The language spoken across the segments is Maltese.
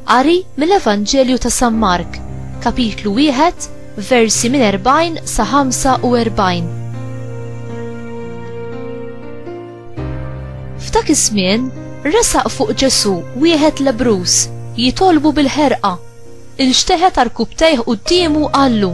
Qari mill-Evanġelju ta' San Mark, kapitlu wieħed, versi minn 40 sa 45. F'dak iż-żmien resaq fuq Ġesu wieħed lebrus jitolbu bil-ħerqa. Inxteħet arkubtejh quddiemu qallu,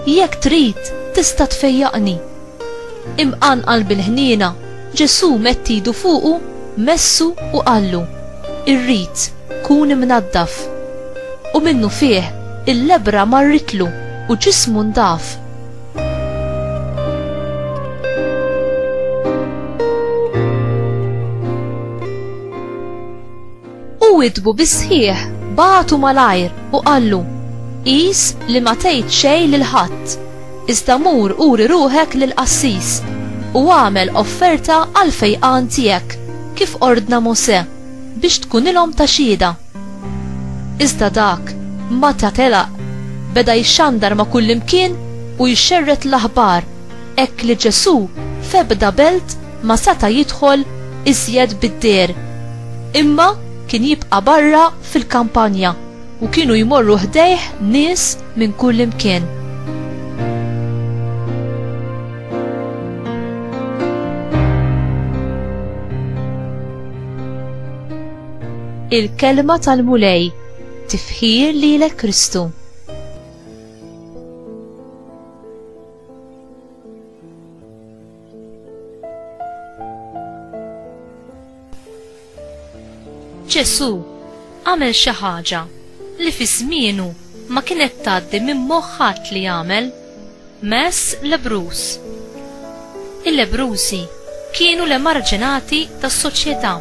Jekk trid, tista' tfejjaqni. Imqanqal bil-ħniena, Ġesù medd idu fuqu, messu u qallu, Irrid, kun imnaddaf. U minnufih, il-lebbra marritlu u ġismu ndaf. U witbu bis-sħiħ, bagħtu malajr u qallu, Qis li ma tgħid xejn lil ħadd, iżda mur uri ruħek lill-qassis, u agħmel offerta għall-fejqan tiegħek, kif ordna Mosè, biex tkunilhom ta' xhieda. Iżda dak, meta telaq, beda jxandar ma' kullimkien u jxerred l-aħbar hekk li Ġesù f'ebda belt ma seta' jidħol iżjed bid-deher, imma kien jibqa' barra fil-kampanja u kienu jmorru ħdejh nies minn kullimkien. il-kelma tal-Mulej, tifħir lilek Kristu. Ġesù għamel xi ħaġa li fi żmienu ma kienet tgħaddi minn moħħat li jagħmel mess lebrus. Il-lebrusi kienu l-emarġinati tas-soċjetà.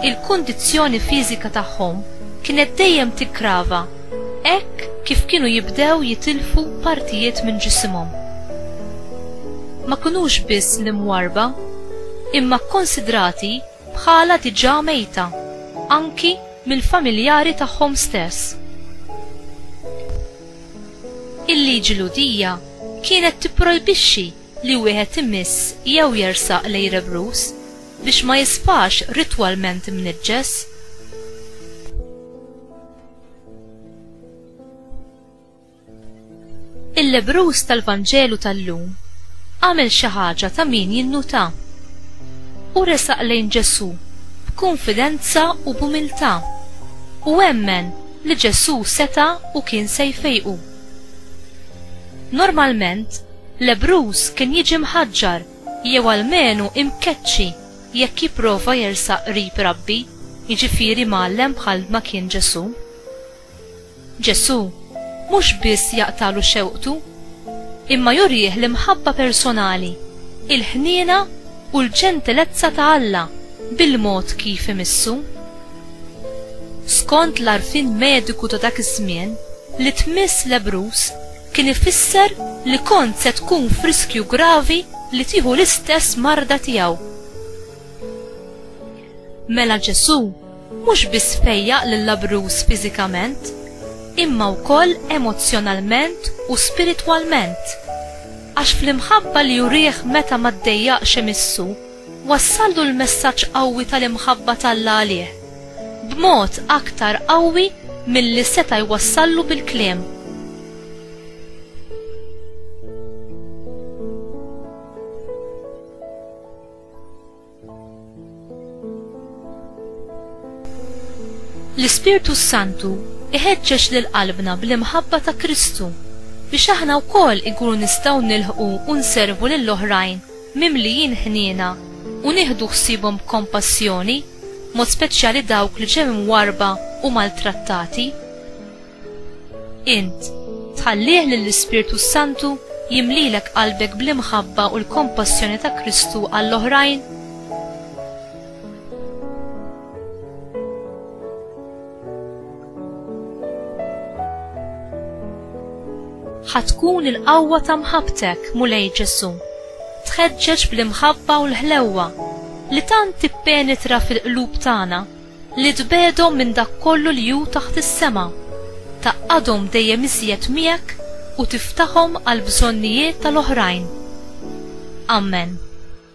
il-kundizzjoni fiżika tagħhom kienet dejjem tiggrava hekk kif kienu jibdew jitilfu partijiet minn ġisimhom. Ma kinux biss l-imwarrba, imma kkunsidrati bħala diġà mejta anki mill-familjari tagħhom stess. Il-liġi Lhudija kienet tipprojbixxi li wieħed imiss jew jersaq lejn rebruż biex ma jisfax ritwalment imniġġes. Il-lebbruż tal-Vanġelu tal-lum għamel xi ħaġa ta' min jinnutha. Hu resaq lejn Ġesù b'kunfidenza u b'umiltà u emmen li Ġesù seta' u kien se jfejqu. Normalment, lebbruż kien jiġi mħaġġar jew almenu imkeċċi jekk jipprova jersaq qrib rabbi, jiġifieri mgħallem bħal ma kien Ġesù. Ġesù mhux biss jaqtagħlu xewqtu, imma jurih l-imħabba personali, il-ħniena u l-ġentilezza ta' Alla bil-mod kif imissu. Skont l-għarfien mediku ta' dak iż-żmien, li tmiss lebbruż kien ifisser li kont se tkun f'riskju gravi li tieħu l-istess marda tiegħu. Mela Ġesù mhux biss fejjaq lil labruż fiżikament, imma wkoll emozzjonalment u spiritwalment, għax fl-imħabba li jurih meta ma ddejjaqx imissu Wassallu l-messaġġ qawwi tal-imħabba t'Alla għalih, b'mod aktar qawwi milli seta' jwassallu bil-kliem. L-Ispirtu s-Santu iħeġġeġ lil qalbna bl-imħabba ta' Kristu biex aħna wkoll inkunu nistgħu nilħqu u nservu lill-oħrajn mimlijin ħniena u nieħdu ħsiebhom b'kompassjoni, b'mod speċjali dawk li ġew imwarrba u maltrattati. Int, tħallih lill-Ispirtu s-Santu jimlilek qalbek bl-imħabba u l-kompassjoni ta' Kristu għall-oħrajn? Ħa tkun il-qawwa ta' mħabbtek, Mulej Ġesù, tħeġġeġ bl-imħabba u l-ħlewwa li tant tippenetra fil-qlub tagħna li tbegħdhom minn dak kollu li hu taħt is-sema, tgħaqqadhom dejjem iżjed miegħek u tiftahom għall-bżonnijiet tal-oħrajn. Amen.